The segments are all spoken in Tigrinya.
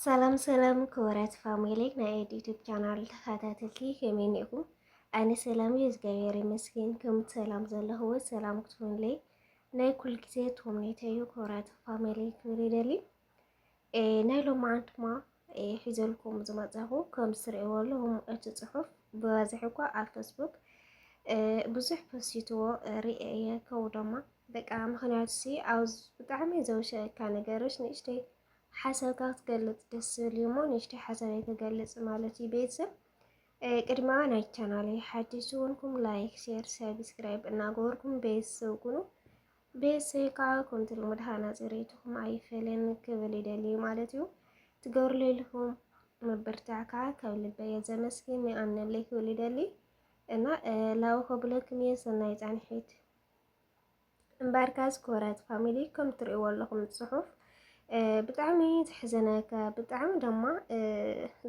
ሰላም ሰላም ክቡራት ፋሚሊ ናይ ኤድ ዩቱብ ቻናል ተኸታተልቲ ከመይ እኒኹም? ኣነ ሰላም እዩ እግዚኣብሔር ይመስገን። ከም ሰላም ዘለኹዎ ሰላም ክትሆንለይ ናይ ኩል ግዜ ትምኒተ እዩ። ክቡራት ፋሚሊ ክብል ይደሊ ናይ ሎም መዓልትማ ሒዘልኩም ዝመፀኹ ከም ዝትርእይዎ ኣለኹም እቲ ፅሑፍ ብበዝሒ እኳ ኣብ ፌስቡክ ብዙሕ ፖስቲትዎ ርኤ እየ ከው ደማ በቃ ምክንያቱ ሲ ኣብ ብጣዕሚ ዘውሸካ ነገሮች ንእሽተይ ሓሳብካ ክትገልጽ ደስ ዝብል እዩ እሞ ንእሽተይ ሓሳበይ ክገልጽ ማለት እዩ ቤተሰብ ቅድማ ናይ ቻናለይ ሓድሽ ዝኮንኩም ላይክ ሼር ሰብስክራይብ እናገበርኩም ቤተሰብ ኩኑ ቤተሰብ ከዓ ከምቲ ልሙድ ሃናፂ ርእይትኹም ኣይፈለን ክብል ይደልዩ ማለት እዩ ትገብርሉ ኢልኩም ምብርታዕ ከዓ ካብ ልበየ ዘመስግን ይኣምነለይ ክብል ይደሊ እና ላው ከብለክም እየ ሰናይ ፃንሒት እምበኣርካ ዝኮረት ፋሚሊ ከም ትርእይዎ ኣለኹም ጽሑፍ ብጣዕሚ ዘሕዘነካ ብጣዕሚ ድማ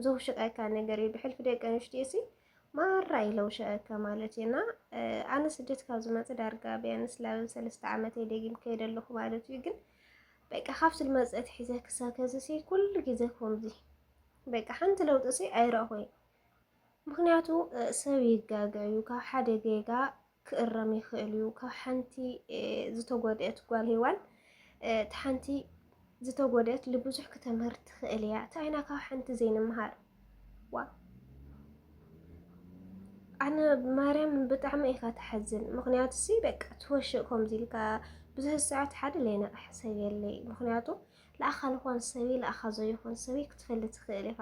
ዘውሽቀካ ነገር እዩ። ብሕልፊ ደቂ ኣንስትዮ ሲ ማራ እዩ ለውሸቀካ ማለት እዩ። እና ኣነ ስደት ካብ ዝመፅ ዳርጋ ቢያንስ ላብ ሰለስተ ዓመት ደጊም ከይደ ኣለኹ ማለት እዩ። ግን በቃ ካብ ስልመፀት ሒዘ ክሳብ ከዚ ሲ ኩሉ ግዜ ከምዚ በቃ ሓንቲ ለውጢ ሲ ኣይረእኹይ። ምክንያቱ ሰብ ይጋገ እዩ ካብ ሓደ ጌጋ ክእረም ይኽእል እዩ። ካብ ሓንቲ ዝተጎድኤት ጓል ሄዋን እቲ ሓንቲ ዝተጎድኤት ልብዙሕ ክተምህር ትኽእል እያ። እንታይ ኢና ካብ ሓንቲ ዘይንምሃር ዋ ኣነ ማርያም ብጣዕሚ ኢኻ ተሓዝን። ምክንያቱ ሲ በቃ ትወሽእ ከምዚ ኢልካ ብዙሕ ሰዓት ሓደ ለይነቕሕ ሰብ የለይ። ምክንያቱ ለኣኻ ልኾን ሰብይ ለኣኻ ዘይኾን ሰብይ ክትፈሊ ትኽእል ኢኻ።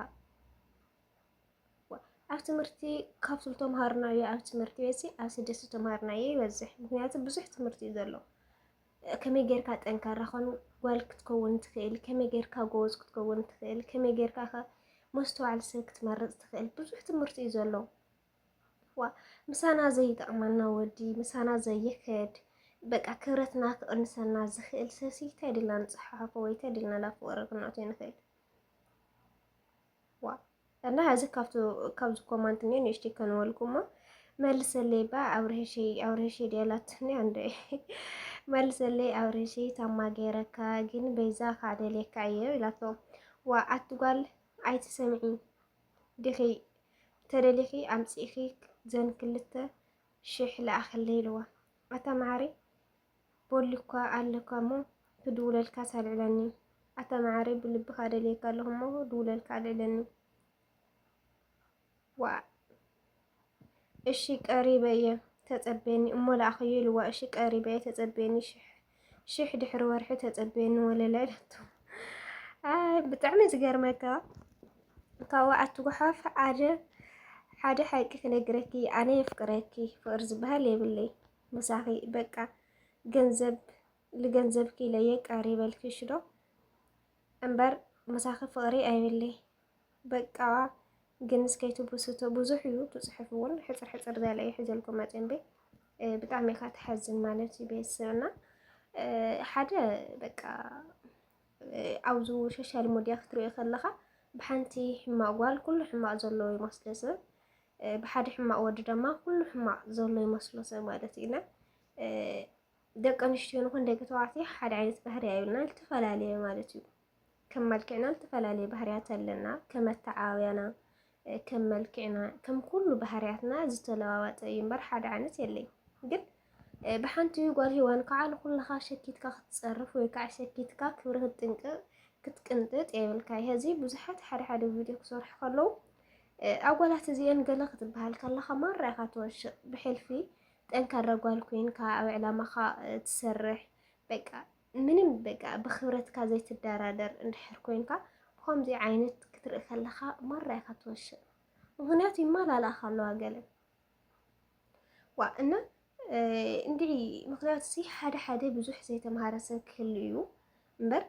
ኣብ ትምህርቲ ካብ ዝተምሃርናዮ ኣብ ትምህርቲ ቤት ኣብ ስደት ዝተምሃርናዮ ይበዝሕ። ምክንያቱ ብዙሕ ትምህርቲ እዩ ዘሎ። ከመይ ጌርካ ጠንካራ ኾን ጓል ክትከውን ትኽእል፣ ከመይ ጌርካ ጎበዝ ክትከውን ትኽእል፣ ከመይ ጌርካ ከ መስተዋዕሊ ሰብ ክትመርፅ ትኽእል፣ ብዙሕ ትምህርቲ እዩ ዘሎ። ዋ ምሳና ዘይጠቕመና ወዲ ምሳና ዘይኸድ በቃ ክብረትና ክቕንሰና ዝኽእል ሰብሲ እንታይ ድልና ንፅሓሓፎ ወይ እንታይ ድልና ናብ ፍቕሪ ክንኣትዮ ንኽእል ዋ ኣላ እዚ ካብቱ ካብዚ ኮማንት እኔ ንእሽተይ ከንበልኩማ መልሰለይ ባ ኣብርሄሸይ ኣብርሄሸይ ድያላት እኔ ኣንደ መልሰለይ ኣብርሄሸይ ታማ ገይረካ ግን በይዛ ካዕ ደልየካ እየ ኢላቶ ዋ ኣትጓል ኣይትሰምዒ ዲኺ ተደሊኺ ኣምፂእኺ ዘን ክልተ ሽሕ ለኣኸለይ ኢልዋ ኣታ መዓረይ ቦሊኳ ኣለኳ እሞ ክድውለልካስ ኣልዕለኒ ኣታ መዓረይ ብልብካ ደልየካ ኣለኩ እሞ ድውለልካ ኣልዕለኒ ዋእ እሺ ቀሪበ እየ ተጸበየኒ እሞ ላኣኸዮ ኢልዋ እሺ ቀሪበ እየ ተጸበየኒ ሽሕ ድሕሪ ወርሒ ተጸበየኒ ወለላ ኢለቶ ብጣዕሚ ዝገርመካ ካብኡ ኣትጉሓፍ ሓደ ሓደ ሓቂ ክነግረኪ ኣነ የፍቅረኪ ፍቅሪ ዝበሃል የብለይ ምሳኺ በቃ ገንዘብ ልገንዘብኪ ኢለየ ቀሪበልክሽ ዶ እምበር ምሳኺ ፍቕሪ ኣይብለይ በቃ ግን እስከይቱ ብስቶ ብዙሕ እዩ ትፅሑፍ እውን ሕፅር ሕፅር ዝበለ እዩ ሒዘልኩም መፅን ቤ ብጣዕሚ ኢኻ ትሓዝን ማለት እዩ ቤተሰብና ሓደ በቃ ኣብዚ ሶሻል ሚዲያ ክትሪኦ ከለኻ ብሓንቲ ሕማቕ ጓል ኩሉ ሕማቕ ዘለዎ ይመስሎ ሰብ ብሓደ ሕማቕ ወዲ ድማ ኩሉ ሕማቕ ዘሎ ይመስሎ ሰብ ማለት እዩ እና ደቂ ኣንስትዮ ንኹን ደቂ ተባዕትዮ ሓደ ዓይነት ባህሪ ኣዩና ዝተፈላለየ ማለት እዩ። ከም መልክዕና ዝተፈላለየ ባህርያት ኣለና። ከም ኣተዓባብያና፣ ከም መልክዕና፣ ከም ኩሉ ባህርያትና ዝተለዋወጠ እዩ እምበር ሓደ ዓይነት የለይ። ግን ብሓንቲ ጓል ሂዋን ከዓ ንኩልኻ ሸኪትካ ክትፀርፍ ወይ ከዓ ሸኪትካ ክብሪ ክትጥንቅቅ ክትቅንጥጥ የብልካ ይሀዚ ብዙሓት ሓደ ሓደ ቪድዮ ክሰርሑ ከለው ኣጓላት እዚኤን ገለ ክትበሃል ከለኻ ማራ ኢኻ ትወሽቅ ብሕልፊ ጠንካራ ጓል ኮይንካ ኣብ ዕላማኻ ትሰርሕ በቃ ምንም በቃ ብክብረትካ ዘይትደራደር እንድሕር ኮይንካ ብከምዚ ዓይነት ክትርኢ ከለኻ ማራ ኢኻ ትወሽቅ ምክንያቱ ይመላለእኻ ኣለዋ ገለ ዋ እና እንድዒ ምክንያቱ ሲ ሓደ ሓደ ብዙሕ ዘይተምሃረ ሰብ ክህሉ እዩ እምበር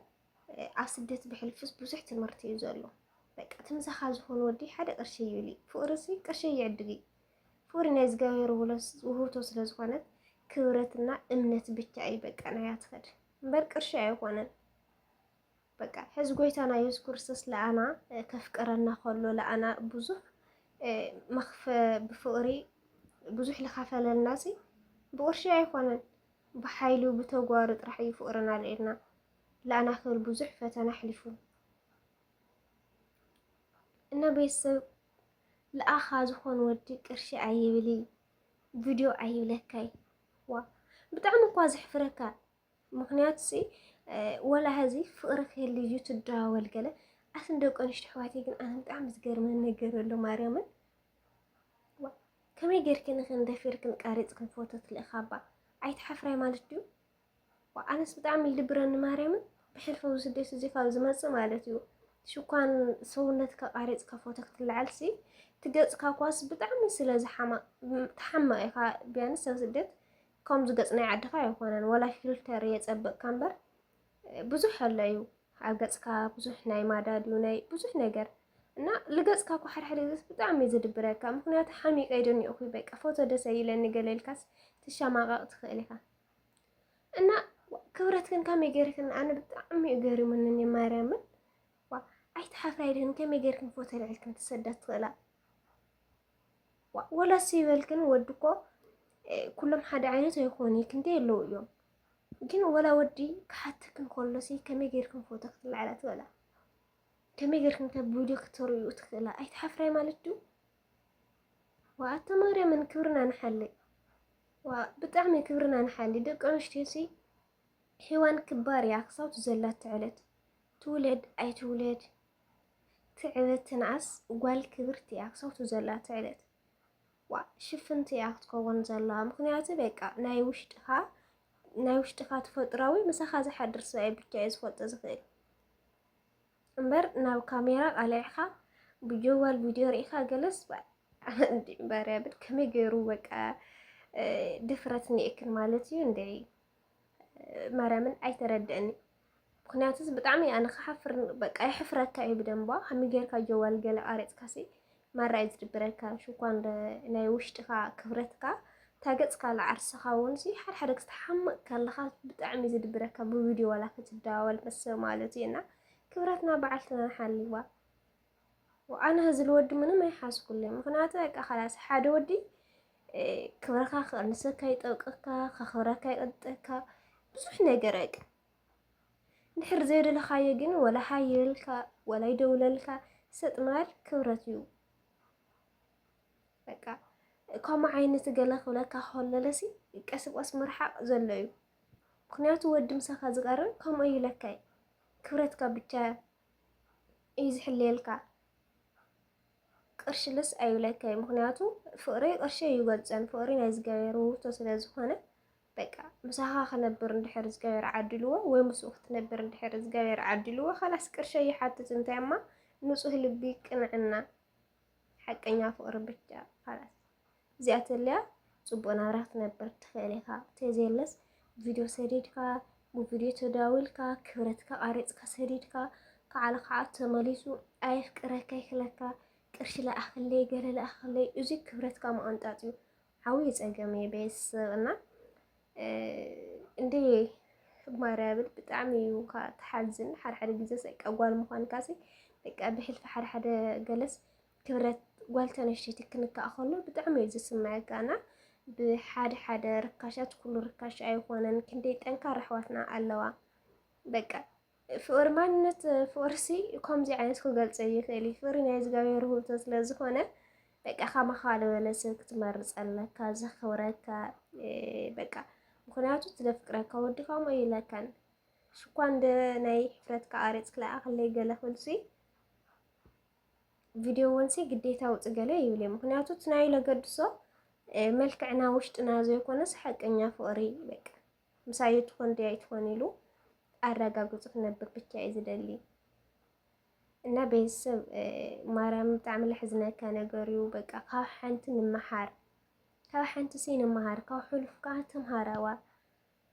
ኣብ ስደት ብሕልፍስ ብዙሕ ትምህርቲ እዩ ዘሎ። በቃ ትምሳኻ ዝኾኑ ወዲ ሓደ ቅርሺ ይብሊ ፍቅሪ ሲ ቅርሺ ይዕድግ እዩ ፍቅሪ ናይ እግዚኣብሔር ውህብቶ ስለ ዝኾነት ክብረትና እምነት ብቻ እዩ በቃ ናያ ትኸድ እምበር ቅርሺ ኣይኾነን። በቃ ሕዚ ጎይታና የሱስ ክርስቶስ ለኣና ከፍቅረና ከሎ ለኣና ብዙሕ መክፈ ብፍቕሪ ብዙሕ ልካፈለልና ሲ ብቕርሺ ኣይኮነን ብሓይሉ ብተጓሩ ጥራሕ እዩ ፍቕርና ልኢልና ለኣና ክብል ብዙሕ ፈተና ኣሕሊፉ እና ቤተሰብ ለኣኻ ዝኾን ወዲ ቅርሺ ኣይብሊ ቪድዮ ኣይብለካይ ዋ ብጣዕሚ እኳ ዘሕፍረካ ምኽንያቱ ሲ ወላ ሀዚ ፍቕሪ ክህሊ እዩ ትደዋወል ገለ ኣትን ደቂ ኣንሽቲ ኣሕዋተይ ግን ኣነ ብጣዕሚ ዝገርመን ነገር ኣሎ ማርያምን ከመይ ጌርክን ንኽን ደፊርክን ቀሪፅክን ፎቶ ትልእኻባ ኣይትሓፍራይ ማለት ድዩ ኣነስ ብጣዕሚ ይድብረኒ ማርያምን ብሕልፊ ስደት እዚ ካብ ዝመፅእ ማለት እዩ ሽኳን ሰውነትካ ቃሪፅካ ፎቶ ክትለዓልሲ ትገፅካ ኳስ ብጣዕሚ ስለ ዝሓማቕ ትሓምቕ ኢኻ ቢያንስ ኣብ ስደት ከምዚ ገጽ ናይ ዓድኻ ኣይኮነን ወላ ፊልተር የጸብቕካ እምበር ብዙሕ ኣሎ እዩ ኣብ ገጽካ ብዙሕ ናይ ማዳድ እዩ ናይ ብዙሕ ነገር እና ልገጽካ እኮ ሓድሓደ ግዜ ብጣዕሚ እዩ ዝድብረካ ምክንያቱ ሓሚቀ ይደኒቑ ኩይ በቃ ፎቶ ደሰ ይለኒ ገለ ኢልካስ ትሸማቐቕ ትኽእል ኢኻ እና ክብረትክን ከመይ ገይርክን ኣነ ብጣዕሚ እዩ ገሪሙኒ እኔ ማርያምን ኣይትሓፍራ ይድህን ከመይ ገይርክን ፎቶ ልዕልክን ትሰዳ ትኽእላ ወላስ ይበል ግን ወዲ እኮ ኩሎም ሓደ ዓይነት ኣይኮኑ ክንደይ ኣለዉ እዮም ግን ወላ ወዲ ክሓትክ እንከሎሲ ከመይ ጌርክን ፎቶ ክትለዓላ ትበላ ከመይ ጌርክን ካብ ቪድዮ ክትርእዩ ትኽእላ ኣይትሓፍራይ ማለት ድዩ ዋኣተ ማርያምን ክብርና ንሓሊ ብጣዕሚ ክብርና ንሓሊ ደቂ ኣንስትዮሲ ሒዋን ክባር እያ ክሳብ ዘላ ትዕለት ትውለድ ኣይትውለድ ትዕብት ትንኣስ ጓል ክብርቲ እያ ክሰብቱ ዘላ ትዕብት ዋእ ሽፍንቲ እያ ክትከውን ዘለዋ ምክንያቱ በቃ ናይ ውሽጥካ ናይ ውሽጥካ ተፈጥራዊ ምሳካ ዝሓድር ሰብኣይ ብቻ እዩ ዝፈልጦ ዝክእል እምበር ናብ ካሜራ ቃልዕካ ብጀዋል ቪድዮ ርኢካ ገለስ ባርያ ብል ከመይ ገይሩ በቃ ድፍረት ኒኤክን ማለት እዩ እንደ ማርያምን ኣይተረድእን እዩ ምክንያቱ ብጣዕሚ ኣነ ክሓፍር በቃ የሕፍረካ እዩ ብደንቧ ከመይ ጌርካ ጀዋል ገለ ቃሪፅካሲ ማራ እዩ ዝድብረካ ሽኳን ናይ ውሽጥካ ክብረትካ ታገፅካ ለዓርስካ እውን ሲ ሓደ ሓደ ክስተሓምቅ ከለካ ብጣዕሚ እዩ ዝድብረካ ብቪድዮ ዋላ ክትደዋወል ምስ ማለት እዩ እና ክብረትና በዓልትና ሓልዋ ኣነ ህዝሊ ወዲ ምንም ኣይሓዝኩለይ ምክንያቱ በቃ ከላስ ሓደ ወዲ ክብረካ ክቅንሰካ ይጠብቀካ ከክብረካ ይቅንጠካ ብዙሕ ነገር በቃ ንሕር ዘይደለካዮ ግን ወላ ሃየልካ ወላ ይደውለልካ ሰጥ ማል ክብረት እዩ በቃ ከምኡ ዓይነት ገለ ክብለካ ከለለሲ ቀስ ብቀስ ምርሓቅ ዘሎ እዩ ምክንያቱ ወዲ ምሳካ ዝቀርብ ከምኡ ይብለካ ክብረትካ ብቻ እዩ ዝሕልየልካ ቅርሽልስ ኣይብለካይ ምክንያቱ ፍቅሪ ቅርሺ ኣይገልፀን ፍቅሪ ናይ ዝገበረ ውህብቶ ስለ ዝኾነ በቃ ምሳኻ ክነብር እንድሕር ዝገበረ ዓድልዎ ወይ ምስኡ ክትነብር እንድሕር ዝገበረ ዓድልዎ ካላስ ቅርሺ ኣይሓትት እንታይ እማ ንፁህ ልቢ ቅንዕና ሓቀኛ ፍቅሪ ብቻ ካላስ እዚኣ ተልያ ጽቡቅ ናብራ ክትነብር ትኽእል ኢኻ ተዘየለስ ቪድዮ ሰዲድካ ብቪድዮ ተዳዊልካ ክብረትካ ቃሪጽካ ሰዲድካ ከዓለ ከዓ ተመሊሱ ኣየፍቅረካ ይክለካ ቅርሺ ለኣኽለይ ገለ ለኣኽለይ እዙይ ክብረትካ መቀንጣጥ እዩ ዓብይ ፀገም እዩ ቤተሰብ እና እንደ ማርያምን ብጣዕሚ እዩ ካ ትሓዝን ሓድሓደ ግዜ ሰቃ ጓል ምኳንካ ሲ በቃ ብሕልፊ ሓድሓደ ገለስ ክብረት ጓል ተነሽቲ ክንካእ ከሎ ብጣዕሚ እዩ ዝስምዐካ እና ብሓደ ሓደ ርካሻት ኩሉ ርካሽ ኣይኮነን። ክንደይ ጠንካራ ኣሕዋትና ኣለዋ በቃ ፍቕሪ ማንነት ፍቕሪሲ ከምዚ ዓይነት ክገልጸ ይኽእል እዩ። ፍቕሪ ናይ እግዚኣብሔር ውህብቶ ስለ ዝኾነ በቃ ካማኻ ዝበለ ሰብ ክትመርጽ ኣለካ፣ ዘኽብረካ በቃ ምክንያቱ ትደፍቅረካ ወዲ ከምኡ ኢለካን ሽኳ እንደ ናይ ሕፍረትካ ኣሬጽ ክለኣኸለይ ገለ ክብልሲ ቪድዮ ወንሲ ግዴታ ውፅ ገለ ይብል እዩ። ምክንያቱ ትናይ ለገድሶ መልክዕና ውሽጥና ዘይኮነስ ሓቀኛ ፍቕሪ በቃ ምሳዩ ትኾን ድያ ኣይትኾን ኢሉ ኣረጋግጹ ክነብር ብቻ እዩ ዝደሊ እና ቤተሰብ ማርያም ብጣዕሚ ለሕዝነካ ነገር እዩ። በቃ ካብ ሓንቲ ንምሓር ካብ ሓንቲ ሲ ንምሃር ካብ ሕሉፍ ከዓ ተምሃራዋ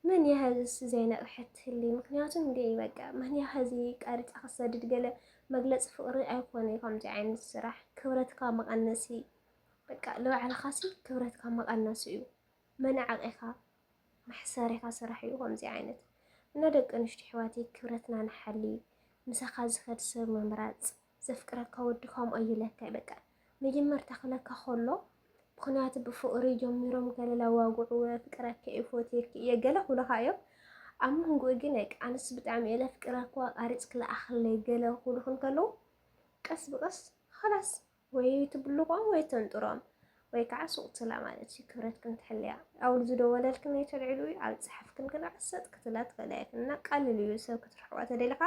መን እያ ሀዝስ ዘይነቕሐት ህሊ ምክንያቱም እንደ በቃ መን እያ ሀዚ ቀሪፃ ክሰድድ ገለ መግለፂ ፍቅሪ ኣይኮነ ከምዚ ዓይነት ስራሕ ክብረትካ መቐነሲ በቃ ንባዕልኻ ሲ ክብረትካ መቐነሲ እዩ መናዕቂኻ መሕሰሪካ ስራሕ እዩ ከምዚ ዓይነት እና ደቂ ኣንስትዮ ኣሕዋተይ ክብረትና ንሓሊ ምሳካ ዝከድ ሰብ ምምራፅ ዘፍቅረካ ወዲ ከምኡ ኣዩ ለካ በቃ መጀመርታ ክለካ ከሎ ምክንያቱ ብፍቅሪ ጀሚሮም ገለ ላዋግዑ ፍቅረኪ እዩ ፎትየኪ እየ ገለ ክብሉካ እዮም ኣብ መንጎኡ ግን በቃ ኣንስ ብጣዕሚ እየ ለፍቅረካ ኣቃሪፅ ክልኣክለይ ገለ ክብሉክ እንከለዉ ቀስ ብቀስ ኸላስ ወይ ትብልቆም ወይ ተንጥሮም ወይ ከዓ ሱቅ ትብላ ማለት እዩ። ክብረትክን ትሕልያ ኣውል ዝደወለልክን ወይ ተልዕሉ እዩ ኣብ ፀሓፍክን ግና ዕሰጥ ክትብላ ትኽእላ ኢኽን እና ቀልል እዩ ሰብ ክትርሕቋ ተደሊኻ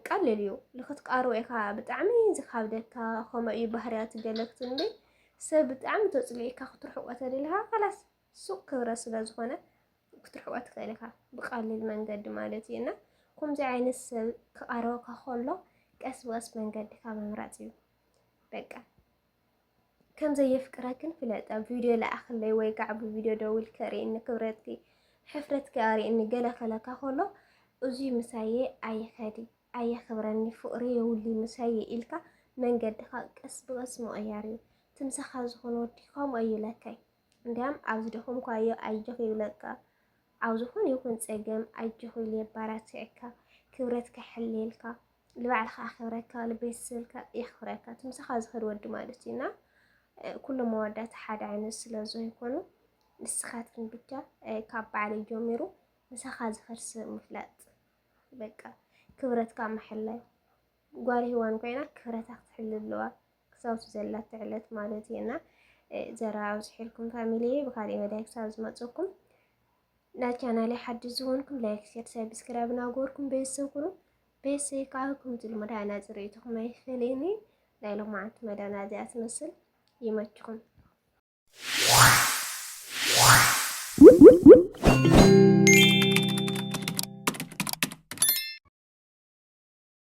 ቀልል እዩ ልክትቃርቦ ኢኻ ብጣዕሚ ዝካብደካ ከምኡ እዩ ባህርያት ገለክት እንዴ ሰብ ብጣዕሚ ተፅሊኢካ ክትርሕቆ ተደሊኻ ካላስ ሱቅ ክብረት ስለ ዝኾነ ክትርሕቆ ትኽእል ኢኻ ብቀሊል መንገዲ ማለት እዩ እና ከምዚ ዓይነት ሰብ ክቀርበካ ከሎ ቀስ ብቀስ መንገድካ ምምራጽ እዩ በቃ ከም ዘየፍቅረክን ፍለጥ ኣብ ቪድዮ ለኣኽለይ ወይ ከዓ ብቪድዮ ደውል ከርእኒ ክብረትኪ ሕፍረትኪ ኣርእኒ ገለ ከለካ ከሎ እዙይ ምሳየ ኣይኸዲ ኣየኽብረኒ ፍቕሪ የውሊ ምሳየ ኢልካ መንገድኻ ቀስ ብቐስ ምቕያር እዩ ትምሳኻ ዝኾነ ወዲ ከምኡ እዩ ለካይ እንድያም ኣብ ዝደኸምካዮ ኣጆኽ ይብለካ፣ ኣብ ዝኾነ ይኹን ጸገም ኣጆኽ ኢሉ የባራትዕካ፣ ክብረት ከሕልየልካ፣ ልባዕልኻ ኣኸብረካ፣ ልቤተሰብልካ የኽብረካ፣ ትምሳኻ ዝኸድ ወዲ ማለት እዩ እና ኩሎም መወዳእታ ሓደ ዓይነት ስለ ዘይኮኑ ንስኻትክን ብቻ ካብ በዓለይ ጀሚሩ ምሳኻ ዝኸድ ሰብ ምፍላጥ በቃ ክብረትካ ምሕላይ ጓል ሂዋን ኮይና ክብረታ ክትሕሉ ኣለዋ ክሳብቲ ዘላቶ ዕለት ማለት እዩ እና ዘራ ኣብዝሒልኩም ፋሚሊየ ብካሊእ መዳይ ክሳብ ዝመፀኩም ናብ ቻናለይ ሓድሽ ዝኾንኩም ላይክ ሸር ሰብስክራይብ ናገርኩም ቤተሰብ ኩኑ ቤተሰብ ከዓ ከምዚ ልሙድ ኣናፂ ርእይቶኹም ኣይፈለየኒ ናይ ሎማዓንቲ መዳና እዚኣ ትመስል ይመችኹም